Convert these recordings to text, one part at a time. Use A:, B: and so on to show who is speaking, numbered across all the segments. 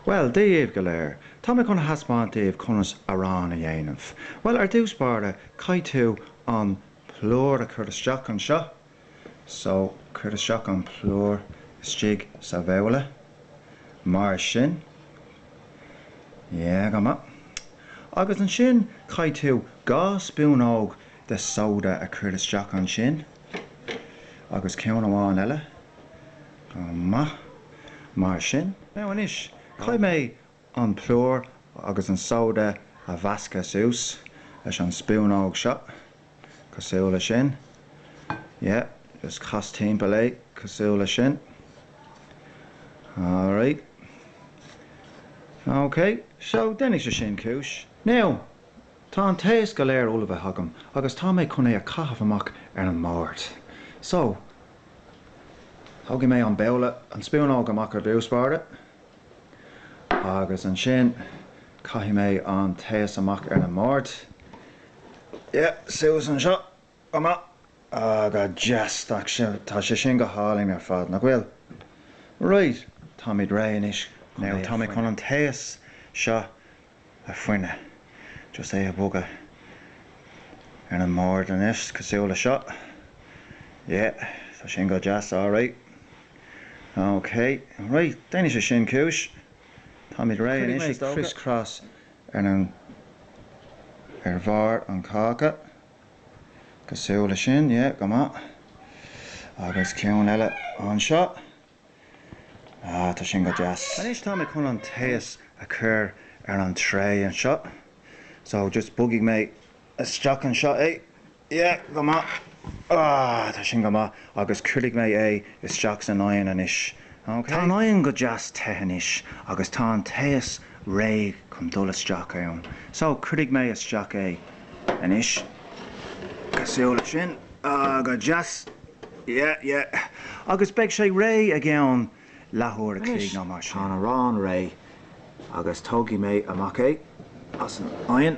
A: Bhuel, daoibh go léir, tá mé chun a thaispeáint daoibh conas arán a dhéanamh. Bhuel, ar dtús báire, caithfidh tú an plúr a chur isteach anseo. So, cuir isteach an plúr istigh sa bhabhla, mar sin. Yeah, go maith. Agus ansin, caithfidh tú dhá spúnóg de sóda a chur isteach ansin. Agus ceann amháin eile. Go maith. Mar sin. Now anois, caithfidh mé an plúr agus an sóide a mheascadh suas leis an spúnóg seo, cosúil le sin. Yeah, just cas timpeall é cosúil le sin. Alright. Okay, so déanfaidh sé sin cúis. Now, Tá an taos go léir ullmhaithe agam agus tá mé chun é a chaitheamh amach ar an mbord. So, tógfaidh mé an babhla, an spúnóg amach ar dtús báire agus ansin caithfidh mé an taos amach ar an mbord. Yeah, suas anseo go maith. Ah, go deas. Tá sé sin go hálainn ar fad, nach bhfuil? Right, táimid réidh anois. Now, tá mé chun an taos seo a fhuineadh, just é a bhogadh ar an mbord anois, cosúil le seo, yeah, tá sin go deas alright, ok, right, déanfaidh sé sin cúis, táimid réidh anois is dócha. Cuirfidh mé criss cross ar an, ar bharr an cháca, cosúil le sin, yeah, go maith, agus ceann eile anseo. Ah, tá sin go deas. Anois tá mé chun an taos a chur ar an tray anseo. So, just bogfaidh mé isteach anseo é. Yeah, go maith. Ah, tá sin go maith. Agus cuirfidh mé é isteach san oigheann anois. OK? Tá an oigheann go deas te anois agus tá an taos réidh chun dul isteach ann. So, cuirfidh mé isteach é. Anois, cosúil le sin. Ah, go deas. Yeah, yeah. Agus beidh sé réidh i gceann leathuair a chloig nó mar sin. Anois, tá an arán réidh agus tógfaidh mé amach é as an oigheann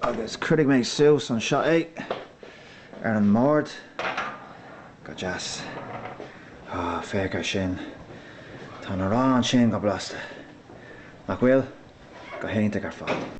A: agus cuirfidh mé suas anseo é ar an mbord. Go deas. Ah, féach ar sin. Tá an arán sin go blasta. Nach bhfuil? Go hiontach ar fad.